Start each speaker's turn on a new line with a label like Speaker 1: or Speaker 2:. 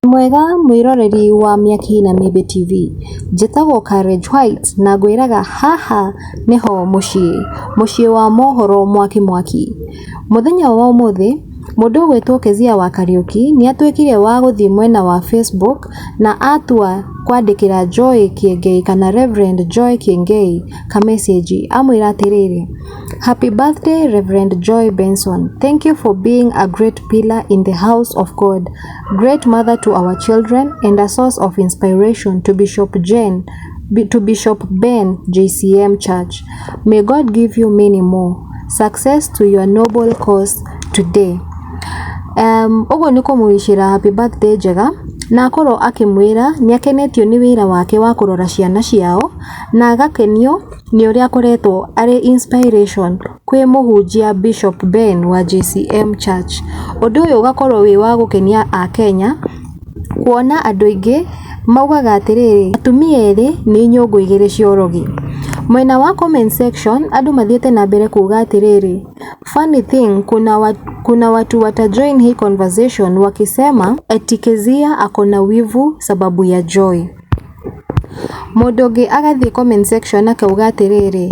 Speaker 1: Wĩmwega mwĩroreri wa Mĩaki na Miĩthĩ TV? Njĩtagwo Courage White na ngwĩraga haha nĩho mũciĩ, mũciĩ wa mohoro mwaki mwaki. Mũthenya wa ũmũthĩ, mũndũ ũgwĩtwo Kezia wa Kariũki nĩ atuĩkire wa gũthiĩ mwena wa Facebook na atua kwandĩkĩra Joy Kĩengei kana Rev. Joy Kĩengei ka message amwĩra atĩrĩrĩ, Happy birthday Rev. Joy Benson, thank you for being a great pillar in the house of God. Great mother to our children and a source of inspiration to Bishop Jane, B- to Bishop Ben JCM Church. May God give you many more. Success to your noble cause today. Um, ũguo nĩ kũmũwicĩra happy birthday njega na akorwo akĩmwĩra nĩ akenetio nĩ wĩra wake wa kũrora ciana ciao na agakenio nĩ ũrĩa akoretwo arĩ inspiration kwĩ mũhunjia Bishop Ben wa JCM Church. Ũndũ ũyũ ũgakorwo wĩ wa gũkenia Akenya, kuona andũ aingĩ maugaga atĩrĩrĩ, atumia erĩ nĩ nyũngũ igĩrĩ cia ũrogi. Mwena wa comment section andũ mathiĩte na mbere kuuga atĩrĩrĩ, funny thing kuna watu wata join hii conversation wakisema eti Kezia ako na wivu sababu ya Joy. Mũndũ ũngĩ agathiĩ comment section akauga atĩrĩrĩ.